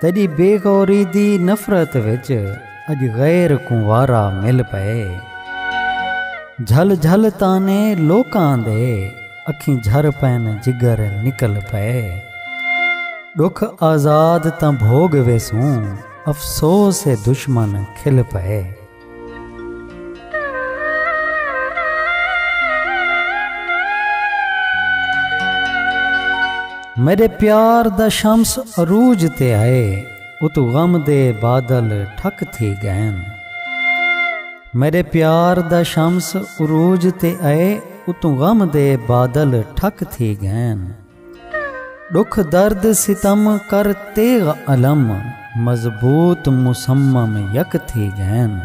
تیݙی بے غوری دی نفرت وچ اڄ غیر کوں وارا مل پئے جھل جھل طعنے لوکاں دے اکھیں جھر پئن جگر نکل پئے ݙکھ آزاد تاں بھوڳ ویسوں افسوس اے دشمن کھل پئے۔ میݙے پیار دا شمس عروج تے ہئے اتوں غم دے بادل ٹھک تھی ڳئن میݙے پیار دا شمس عروج تے ہئے اتوں غم دے بادل ٹھک تھی ڳئن ݙکھ درد ستم کر تیغ الم مضبوط مصمم یک تھی ڳئن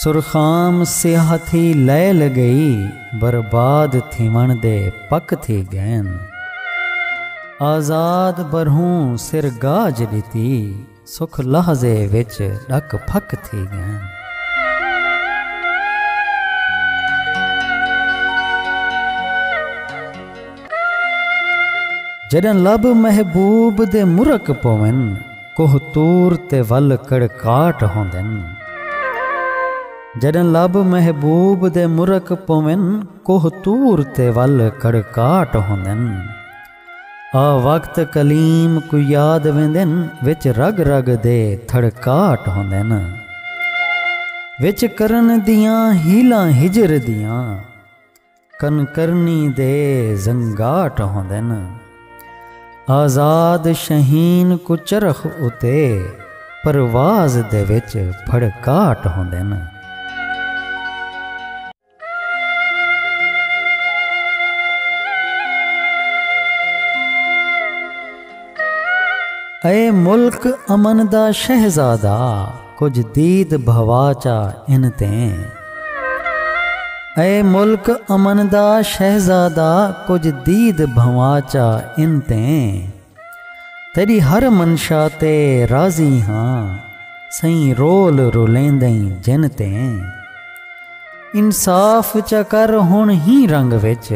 سرخام سیاہ تھی لیل ڳئی برباد تھیوݨ دے پک تھی ڳئن آزاد برھوں سر گاج ݙتی سکھ لحظے وچ ݙک پھک تھی ڳئن۔ جݙاں لب محبوب دے مرک پوون۔ کوہ طور تے ول کڑکاٹ ہوندن۔ جݙاں لب محبوب دے مرک پوون۔ کوہ طور تے ول کڑکاٹ ہوندن۔ آ وقت کلیم کوں یاد ویندن وچ رگ رگ دے تھڑکاٹ ہوندن وچ کرن دیاں ہیلاں ہجر دیاں کن کرنی دے زنگاٹ ہوندن آزاد شہین کوں چرخ اتے پرواز دے وچ پھڑکاٹ ہوندن۔ اے ملک امن دا شہزادہ کجھ دید بھوا چا ان تیں اے ملک امن دا شہزادہ کجھ دید بھوا چا ان تیں تیݙی ہر منشا تے راضی ہاں سئیں رول رولیندئیں جن تے انصاف چا کر ہݨ ہی رنگ وچ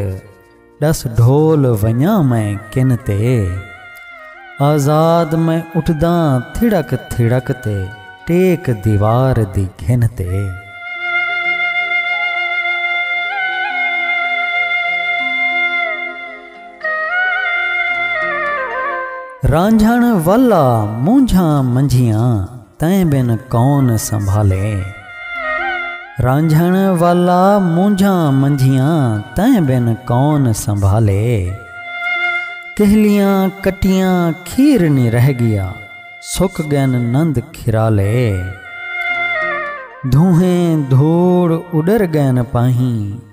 ݙس ڈھول ونڄاں میں کن تے آزاد میں اٹھداں تھڑک تھڑک تے ٹیک دیوار دی گھن تے۔ رانجھݨ والا مونجھاں منجھیاں تیں بن کون سنبھالے رانجھݨ والا مونجھاں منجھیاں تیں بن کون سنبھالے کہلیاں کٹیاں کھیر نہیں رہ گیا سک گن نند کھرالے دھوہیں دھوڑ اڈر گین پاہیں